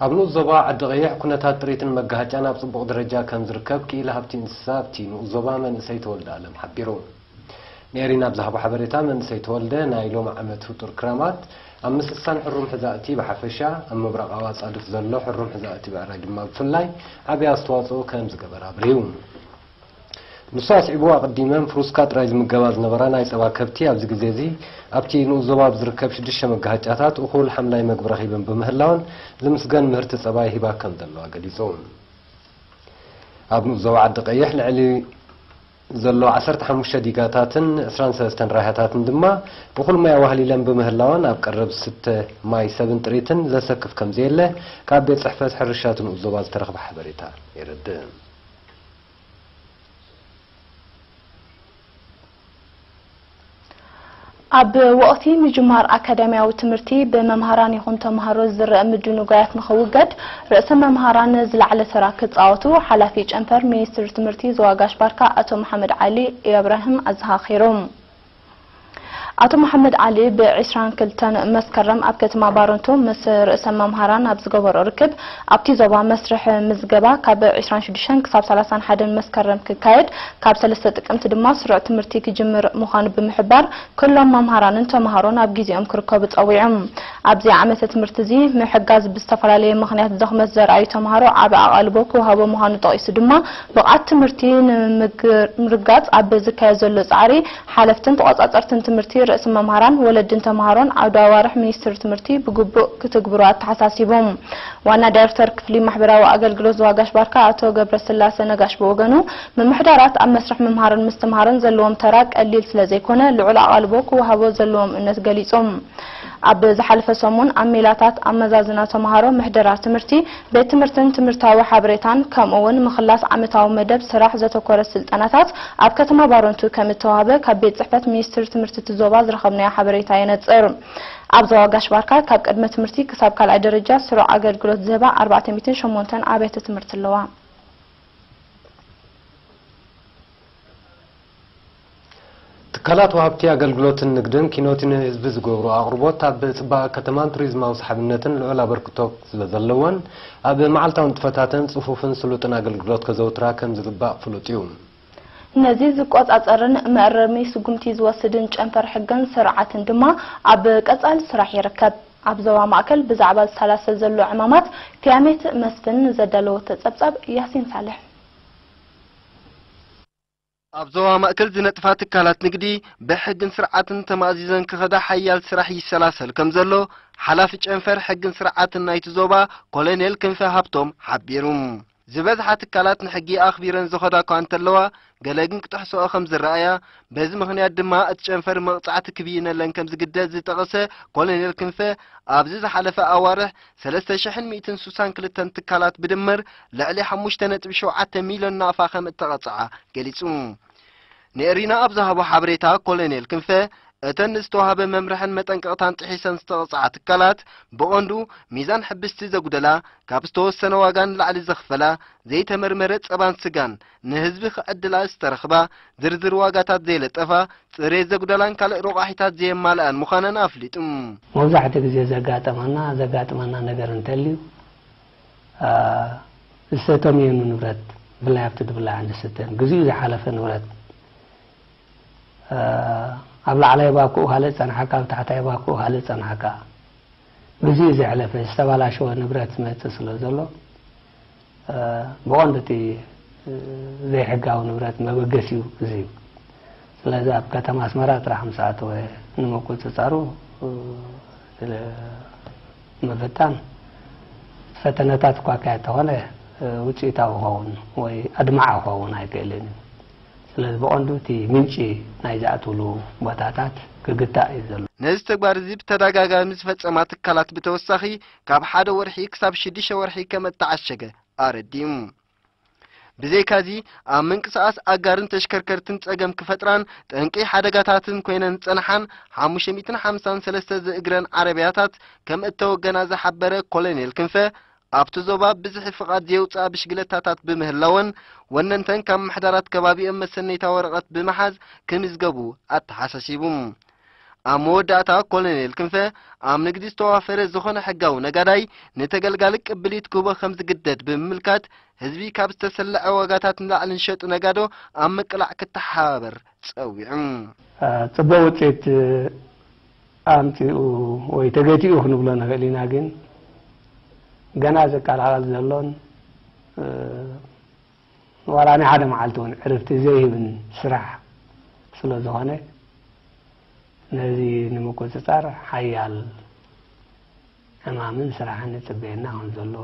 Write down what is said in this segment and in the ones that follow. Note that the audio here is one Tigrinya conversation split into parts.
ኣብ ንኡስ ዞባ ዓዲቐይሕ ኩነታት ጥሪትን መጋሃጫን ኣብ ፅቡቕ ደረጃ ከምዝርከብ ክኢላ ሃብቲ እንስሳ ኣብቲ ንኡስ ዞባ መንእሰይ ተወልደ ኣለም ሓቢሩ። ንኤሪና ብዝሃቦ ሓበሬታ መንእሰይ ተወልደ ናይ ሎሚ ዓመት ህጡር ክራማት ኣብ ምስሳን ሕሩም ሕዛእቲ ብሓፈሻ ኣብ ምብራቓዊ ኣፃድፍ ዘሎ ሕሩም ሕዛእቲ ብዕራይ ድማ ብፍላይ ዓብይ ኣስተዋፅኦ ከምዝገበረ ኣብሪሁ። ንሱ ኣስዒቡ፣ ኣቐዲመን ፍሩስካ ጥራይ ዝምገባ ዝነበራ ናይ ጸባ ከብቲ ኣብዚ ግዜ'ዚ ኣብቲ ንኡስ ዞባ ኣብ ዝርከብ ሽዱሽተ መጋሃጫታት እኹል ሓምላይ መግቢ ረኺበን ብምህላወን ዝምስገን ምህርቲ ጸባ ይህባ ከም ዘለዋ ገሊጹ። ኣብ ንኡስ ዞባ ዓዲ ቀይሕ ልዕሊ ዘሎ ዓሰርተ ሓሙሽተ ዲጋታትን ዕስራን ሰለስተን ራህያታትን ድማ እኹል ማይ ኣዋህሊለን ብምህላወን ኣብ ቀረብ ዝስተ ማይ ሰብን ጥሪትን ዘሰክፍ ከም ዘየለ ካብ ቤት ጽሕፈት ሕርሻ'ቲ ንኡስ ዞባ ዝተረኽበ ሓበሬታ የረድእ። ኣብ ወቕቲ ምጅማር ኣካዳሚያዊ ትምህርቲ ብመምሃራን ይኹን ተምሃሮ ዝረእ ምድንጓያት ንኽውገድ ርእሰ መምሃራን ዝለዓለ ተራ ክፃወቱ ሓላፊ ጨንፈር ሚኒስትሪ ትምህርቲ ዞባ ጋሽ ባርካ ኣቶ መሓመድ ዓሊ ኢብራሂም ኣዘኻኺሮም። ኣቶ መሓመድ ዓሊ ብ ዕስራን ክልተን መስከረም ኣብ ከተማ ባረንቱ ምስ ርእሰ መምሃራን ኣብ ዝገበሮ ርክብ ኣብቲ ዞባ መስርሕ ምዝገባ ካብ ዕስራን ሽዱሽተን ክሳብ ሰላሳን ሓደን መስከረም ክካየድ ካብ ሰለስተ ጥቅምቲ ድማ ስሩዕ ትምህርቲ ክጅምር ምዃኑ ብምሕባር ኩሎም መምሃራንን ተምሃሮን ኣብ ግዜኦም ክርከቡ ጸዊዑ። ኣብዚ ዓመተ ትምህርቲ እዚ ምሕጋዝ ብዝተፈላለየ ምኽንያት ድኽመት ዘርኣዩ ተምሃሮ ዓቢ ኣቓልቦ ክወሃቦ ምዃኑ ጠቒሱ ድማ ብቕዓት ትምህርቲ ንምርግጋፅ ኣብ ዝካየድ ዘሎ ፃዕሪ ሓለፍትን ተቖፃፀርትን ትምህርቲ፣ ርእሲ መምሃራን፣ ወለድን ተምሃሮን ዓውደ ኣዋርሕ ሚኒስቴር ትምህርቲ ብግቡእ ክትግብሩ ኣተሓሳሲቦም። ዋና ዳይሬክተር ክፍሊ ማሕበራዊ ኣገልግሎት ዞዋጋሽ ባርካ ኣቶ ገብረስላሰ ነጋሽ ብወገኑ፣ ምምሕዳራት ኣብ መስርሕ ምምሃርን ምስትምሃርን ዘለዎም ተራ ቀሊል ስለዘይኮነ ልዑል ኣቓልቦ ክወሃቦ ዘለዎም እነት ገሊፆም። ኣብ ዝሓለፈ ሰሙን ኣብ ሜላታት ኣመዛዝና ተምሃሮ ምሕደራ ትምህርቲ፣ ቤት ትምህርትን ትምህርታዊ ሓበሬታን ከምኡ እውን ምኽላስ ዓመታዊ መደብ ስራሕ ዘተኮረ ስልጠናታት ኣብ ከተማ ባረንቱ ከም እተዋህበ ካብ ቤት ፅሕፈት ሚኒስትር ትምህርቲ እቲ ዞባ ዝረኸብናዮ ሓበሬታ የነፅር። ኣብ ዞባ ጋሽ ባርካ ካብ ቅድመ ትምህርቲ ክሳብ ካልኣይ ደረጃ ስሩዕ ኣገልግሎት ዝህባ ኣርባዕተ ሚእትን ሸሞንተን ኣብያተ ትምህርቲ ኣለዋ። ትካላት ወሃብቲ ኣገልግሎትን ንግድን ኪኖቲ ንህዝቢ ዝገብርኦ ኣቕርቦት ኣብ ፅባቐ ከተማን ቱሪዝማዊ ሰሓብነትን ልዑል ኣበርክቶ ስለዘለወን ኣብ መዓልታዊ ንጥፈታተን ፅፉፍን ስሉጥን ኣገልግሎት ከዘውትራ ከምዝግባእ ፍሉጥ እዩ። ነዚ ዝቆፃፀርን መእረሚ ስጉምቲ ዝወስድን ጨንፈር ሕግን ስርዓትን ድማ ኣብ ቀፃሊ ስራሕ ይርከብ። ኣብ ዞባ ማእከል ብዛዕባ ዝሰላሰል ዘሎ ዕማማት ፊያሜት መስፍን ንዘዳለወቶ ፀብፃብ ያሲን ሳልሕ። ኣብ ዞባ ማእከል ዝነጥፋ ትካላት ንግዲ ብሕግን ስርዓትን ተማእዚዘን ክኸዳ ሓያል ስራሕ ይሰላሰል ከምዘሎ ሓላፊ ጨንፈር ሕግን ስርዓትን ናይቲ ዞባ ኮሎኔል ክንፈ ሃብቶም ሓቢሩ። ዝበዝሓ ትካላት ንሕጊ ኣኽቢረን ዝኸዳ እኳ እንተለዋ ገለ ግን ክጥሕስኦ ከም ዝረኣያ በዚ ምኽንያት ድማ እቲ ጨንፈር መቕጻዕቲ ክብይነለን ከም ዝግደድ ዝጠቐሰ ኮሎኔል ክንፈ ኣብዚ ዝሓለፈ ኣዋርሕ ሰለስተ ሽሕን ሚእትን ሱሳን ክልተን ትካላት ብድምር ልዕሊ ሓሙሽተ ነጥቢ ሸውዓተ ሚልዮን ናቕፋ ከም እተቐጽዓ ገሊጹ። ንኤሪና ኣብ ዝሃቦ ሓበሬታ ኮሎኔል ክንፈ እተን ንዝተዋህበ መምርሕን መጠንቀቕታን ጥሒሰን ዝተቐጽዓ ትካላት ብቐንዱ ሚዛን ሕብስቲ ዘጉደላ፣ ካብ ዝተወሰነ ዋጋ ንላዕሊ ዘኽፈላ፣ ዘይተመርመረ ጸባን ስጋን፣ ንህዝቢ ክዕድላ ዝተረኽባ፣ ዝርዝር ዋጋታት ዘይለጠፋ፣ ጽሬት ዘጉደላን ካልእ ሮቛሒታት ዘየማልኣን ምዃነን ኣፍሊጡ። መብዛሕትኡ ግዜ ዘጋጠመና፣ ዘጋጥመና ነገር እንተልዩ፣ ዝተተምየኑ ንብረት ብፍላይ ኣብቲ ዝብላዕን ዝስተን ግዚኡ ዝሓለፈ ንብረት ኣብ ላዕላይ ባኩኡ ካልእ ዝጸንሓካ፣ ኣብ ታሕታይ ባኩኡ ካልእ ዝጸንሓካ ግዚኡ ዘሕለፈ ዝተባላሸወ ንብረት ዝመጽእ ስለ ዘሎ ብቐንዱ እቲ ዘይሕጋዊ ንብረት መበገሲኡ እዚ እዩ። ስለዚ ኣብ ከተማ ኣስመራ ጥራሕ ምስ ኣተወ ንምቁፅፃሩ ንምፍታን ፈተነታት እኳ ኣካየድ ተኾነ ውፅኢታዊ ኸውን ወይ ኣድማዓ ኸውን ኣይክእልን እዩ። ስለዚ ብቐንዱ እቲ ምንጪ ናይ ዝኣትውሉ ቦታታት ክግታእ እዩ ዘሎ። ነዚ ተግባር እዚ ብተደጋጋሚ ዝፈፀማ ትካላት ብተወሳኺ ካብ ሓደ ወርሒ ክሳብ ሽዱሽተ ወርሒ ከም እተዓሸገ ኣረዲኡ። ብዘይካዚ ኣብ ምንቅስቓስ ኣጋርን ተሽከርከርትን ጸገም ክፈጥራን ጠንቂ ሓደጋታትን ኮይነን ዝጸንሓን 553 ዝእግረን ዓረብያታት ከም እተወገና ዝሓበረ ኮሎኔል ክንፈ ኣብቲ ዞባ ብዝሒ ፍቓድ ዘየውፅኣ ብሽግለታታት ብምህላወን ወነንተን ካብ ምሕዳራት ከባቢኦም መሰነይታ ወረቐት ብምሓዝ ክምዝገቡ ኣተሓሳሲቡ ኣብ መወዳእታ ኮሎኔል ክንፈ ኣብ ንግዲ ዝተዋፈረ ዝኾነ ሕጋዊ ነጋዳይ ንተገልጋሊ ቅብሊት ክህቦ ከም ዝግደድ ብምምልካት ህዝቢ ካብ ዝተሰለዐ ዋጋታት ንላዕሊ ንሸጡ ነጋዶ ኣብ ምቅላዕ ክተሓባበር ጸዊዑ። ጽቡቕ ውጽኢት ኣምጺኡ ወይ ተገቲኡ ክንብሎ ንኽእል ኢና ግን ገና ዝቀላቐል ዘሎን ዋላ ናይ ሓደ መዓልቲ እውን ዕርፍቲ ዘይህብን ስራሕ ስለዝኾነ ነዚ ንምቁፅፃር ሓያል ዕማምን ስራሕን ይፅበየና ከምዘሎ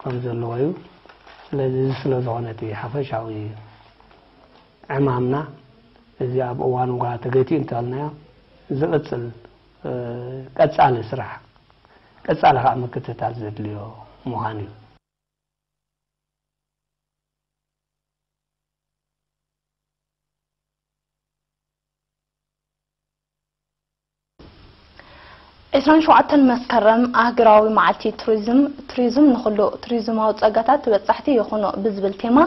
ከም ዘለዎ እዩ ስለዚ እዚ ስለ ዝኾነ እቲ ሓፈሻዊ ዕማምና እዚ ኣብ እዋን ጓ ተገቲኡ እንተበልናዮ ዝቕፅል ቀጻሊ ስራሕ ቀጻሊ ከኣ ምክትታል ዘድልዮ ምዃኑ እዩ። ዕስራን ሸውዓተን መስከረም ኣህግራዊ መዓልቲ ቱሪዝም ቱሪዝም ንኹሉ ቱሪዝማዊ ጸጋታት ተበጻሕቲ ይኹኑ ብዝብል ቴማ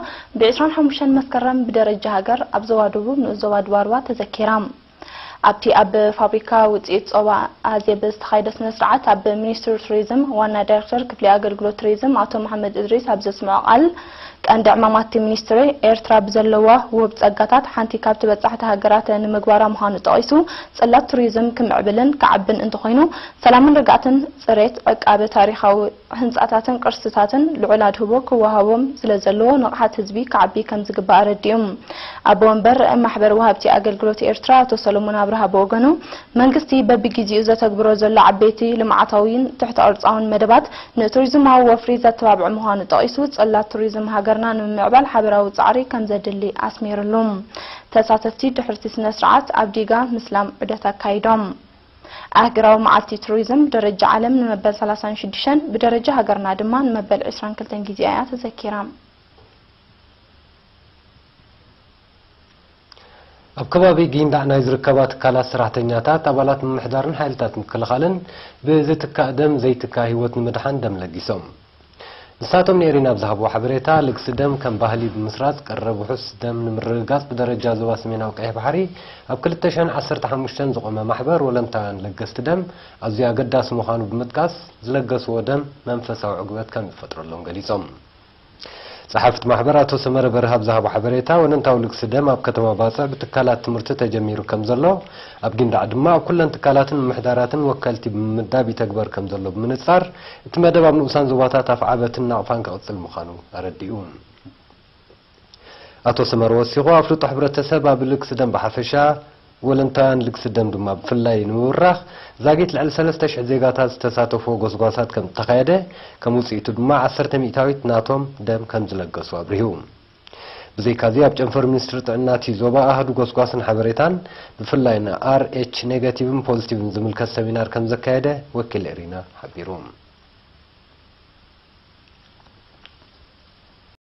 ብ25 መስከረም ብደረጃ ሃገር ኣብ ዞባ ደቡብ ንኡስ ዞባ ድባርዋ ተዘኪራ። ኣብቲ ኣብ ፋብሪካ ውፅኢት ፆባ ኣዜብ ዝተኻየደ ስነ ስርዓት ኣብ ሚኒስትሪ ቱሪዝም ዋና ዳይሬክተር ክፍሊ ኣገልግሎት ቱሪዝም ኣቶ መሓመድ እድሪስ ኣብ ዘስምዖ ቃል ቀንዲ ዕማማት እቲ ሚኒስትሪ ኤርትራ ብዘለዋ ውህብ ፀጋታት ሓንቲ ካብ ተበፃሕቲ ሃገራት ንምግባራ ምዃኑ ጠቒሱ ፅላት ቱሪዝም ክምዕብልን ክዓብን እንተኾይኑ ሰላምን ርግኣትን ፅሬት ዕቃበ ታሪኻዊ ህንፃታትን ቅርስታትን ልዑል ኣድህቦ ክወሃቦም ስለዘለዎ ንቕሓት ህዝቢ ክዓቢ ከምዝግባእ ኣረዲኡ። ኣቦ ወንበር ማሕበር ወሃብቲ ኣገልግሎት ኤርትራ ኣቶ ሰሎሞን ኣብርሃ ብወገኑ፣ መንግስቲ በቢጊዚኡ ዘተግብሮ ዘሎ ዓበይቲ ልምዓታዊን ትሕተ ቅርፃውን መደባት ንቱሪዝማዊ ወፍሪ ዘተባብዕ ምዃኑ ጠቒሱ ፅላት ቱሪዝም ሃገርና ንምምዕባል ሓበራዊ ፃዕሪ ከምዘድሊ ኣስሚርሉ። ተሳተፍቲ ድሕርቲ ስነ ስርዓት ኣብ ዲጋ ምስላም ዑደት ኣካይዶም። ኣህግራዊ መዓልቲ ቱሪዝም ብደረጃ ዓለም ንመበል ሰላሳን ሽዱሽተን ብደረጃ ሃገርና ድማ ንመበል ዕስራን ክልተን ግዜኣ እያ ተዘኪራ። ኣብ ከባቢ ጊንዳዕ ናይ ዝርከባ ትካላት ሰራሕተኛታት፣ ኣባላት ምምሕዳርን ሓይልታት ምክልኻልን ብዝትካእ ደም ዘይትካእ ህይወት ንምድሓን ደም ለጊሶም። ንሳቶም ንኤሪና ኣብ ዝሃብዎ ሓበሬታ፣ ልግሲ ደም ከም ባህሊ ብምስራጽ ቀረብ ውሑስ ደም ንምርግጋጽ ብደረጃ ዞባ ሰሜናዊ ቀይሕ ባሕሪ ኣብ ክልተ ሽሕን ዓሰርተ ሓሙሽተን ዝቖመ ማሕበር ወለንታውያን ለገስቲ ደም ኣዝዩ ኣገዳሲ ምዃኑ ብምጥቃስ፣ ዝለገስዎ ደም መንፈሳዊ ዕግበት ከም ዝፈጥረሎም ገሊጾም። ጸሓፍት ማሕበር ኣቶ ሰመረ በርሀ ኣብ ዝሃቦ ሓበሬታ፣ ወለንታዊ ልግሲ ደም ኣብ ከተማ ባጽዕ ብትካላት ትምህርቲ ተጀሚሩ ከም ዘሎ፣ ኣብ ጊንዳዕ ድማ ኣብ ኩለን ትካላትን ምምሕዳራትን ወከልቲ ብምምዳብ ይተግበር ከምዘሎ ብምንጻር፣ እቲ መደብ ኣብ ንኡሳን ዞባታት ኣፍዓበትን ናቕፋን ክቕጽል ምዃኑ ኣረዲኡ። ኣቶ ሰመረ ወሲኹ፣ ኣፍልጦ ሕብረተሰብ ኣብ ልግሲ ደም ብሓፈሻ፣ ወለንታውያን ልግሲ ደም ድማ ብፍላይ ንምብራኽ ዛጊት ልዕሊ ሰለስተ ሽሕ ዜጋታት ዝተሳተፍዎ ጎስጓሳት ከምዝተኻየደ፣ ከም ውጽኢቱ ድማ ዓሰርተ ሚእታዊት ናቶም ደም ከምዝለገሱ ኣብሪሁ። ብዘይካ'ዚ ኣብ ጨንፈር ሚኒስትሪ ጥዕና እቲ ዞባ ኣሃዱ ጎስጓስን ሓበሬታን ብፍላይ ን RH ኔጋቲቭን ፖዚቲቭን ዝምልከት ሰሚናር ከምዘካየደ ወኪል ኤሪና ሓቢሩ።